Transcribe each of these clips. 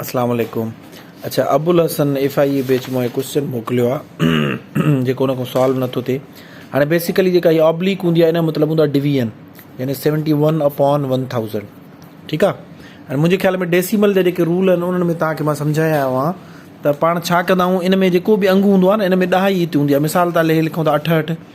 اسلام عليڪم اڇا Abulhasan F I A batch مون ڪوشچن موڪليو آ جيڪو ان کان سالو نٿو ٿئي هاڻي بيسيڪلي جيڪا هي آبليڪ هوندي آهي ان مطلب هوندا ڊويزن يعني 71 اپون 1000 ٺيڪ آ ۽ منهنجي خيال ۾ ڊيسيمل جا جيڪي رول آهن انهن ۾ توهان کي مان سمجهايا آيو آهان ته پاڻ ڇا ڪندا آهيون ان ۾ جيڪو به انگ هوندو آهي نه ان ۾ ڏهائي هتي هوندي آهي مثال طور لکون ٿا اٺهٺ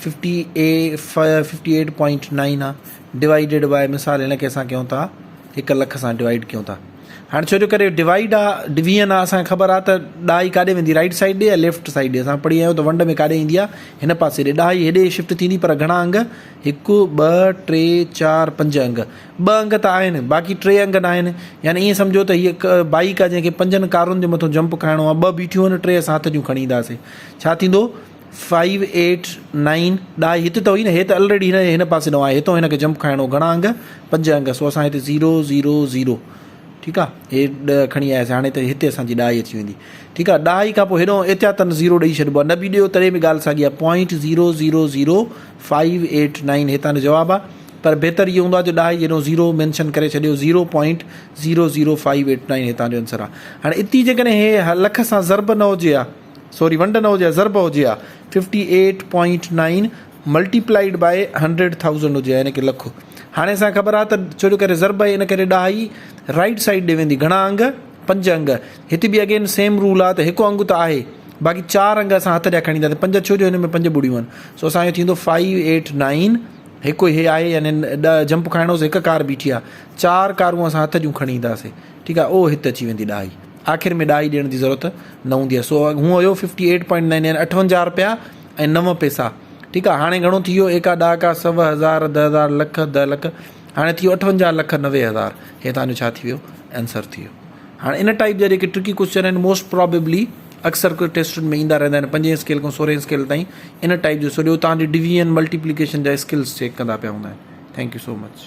fifty A fifty eight point nine آ ڊوائيڊيڊ بائي مثال هن کي اسان ڪيون ٿا هڪ لک سان ڊوائيڊ ڪيون ٿا هاڻي ڇو جو ڪري ڊوائيڊ آ ڊويئن آ اسانکي خبر آ ته ڏهائي ڪاڏي ويندي رائيٽ سائيڊ ڏي يا ليفٽ سائيڊ ڏي اسان پڙهي آيا آهيون ته ونڊ ۾ ڪاڏي ايندي آ هن پاسي ڏي ڏهائي هيڏي شفٽ ٿيندي پر گهڻا انگ هڪ ٻه ٽي چار پنج انگ ٻه انگ ته آهن باقي ٽي انگ نا آهن يعني ايئن سمجهو ته هي هڪ بائيڪ آ جنهن کي پنجن ڪارن جي مٿو جمپ کائڻو آ ٻه بيٺيون آهن ٽي اسان هٿ جون کڻي اينداسي ڇا ٿيندو فائيو ايٽ نائين ڏاهي هت ته هئي نه هي ته الريڊي هن هن پاسي نو آهي هتو هن کي جمپ کائڻو گهڻا انگ پنج انگ سو اسان هتي زيرو زيرو زيرو ٺيڪ آ هي ڏهه کڻي آياسي هاڻي ته هتي اسان جي ڏاهي اچي ويندي ٺيڪ آ ڏاهي کان پوء هيڏو احتياطن زيرو ڏئي ڇڏبو آ نه به ڏيو تڏهن به ڳالهه ساڳي آ point zero zero zero five eight nine هي تان جو جواب آ پر بهتر اهو هوندو آ جو ڏاهي جهڙو زيرو مينشن ڪري ڇڏيو zero point zero zero five eight nine هي تان جو انسر آ هاڻي اتي جيڪڏهن هي لک سان ضرب نه هجي آ سوري ونڊ نه هجي ها ضرب هجي ها fifty eight point nine multiplied by hundred thousand هجي ها يعني ڪي لک هاڻي اسان کي خبر آهي ته ڇو جو ڪري ضرب آهي ان ڪري ڏهائي رائيٽ سائيڊ ڏي ويندي گهڻا انگ پنج انگ هتي به اگين سيم رول آهي ته هڪ انگ ته آهي باقي چار انگ اسان هٿ ڏيا کڻي اينداسي پنج ڇو جو هن ۾ پنج ٻڙيون آهن سو اسان جو ٿيندو فائيو ايٽ نائين هڪ هي آهي يعني ڏهه جمپ کائڻو هيڪ ڪار بيٺي آهي چار ڪارون اسان هٿ جون کڻي اينداسي ٺيڪ آهي او هت اچي ويندي ڏهائي آخر ۾ ڏاهي ڏيڻ جي ضرورت نه هوندي آهي سو اگهه هونء هيو fifty eight point nine nine اٺونجاهه روپيا ۽ نو پئسا ٺيڪ آهي هاڻي گهڻو ٿي ويو ايڪا ڏهاڪا سو هزار ده هزار لک ده لک هاڻي ٿي ويو اٺونجاهه لک نوي هزار هي تانجو ڇا ٿي ويو انسر ٿي ويو هاڻي ان ٽائپ جا جيڪي ٽرڪي ڪوشچن آهن موسٽ پرابيبلي اڪثر ڪو ٽيسٽن ۾ ايندا رهندا آهن پنجين اسڪيل کان سورهين اسڪيل تائين ان ٽائپ جو سو ڏيو تانجو ڊويزن ملٽيپليڪيشن جا اسڪلس چيڪ ڪندا پيا هوندا آهن ٿينڪ يو سو مچ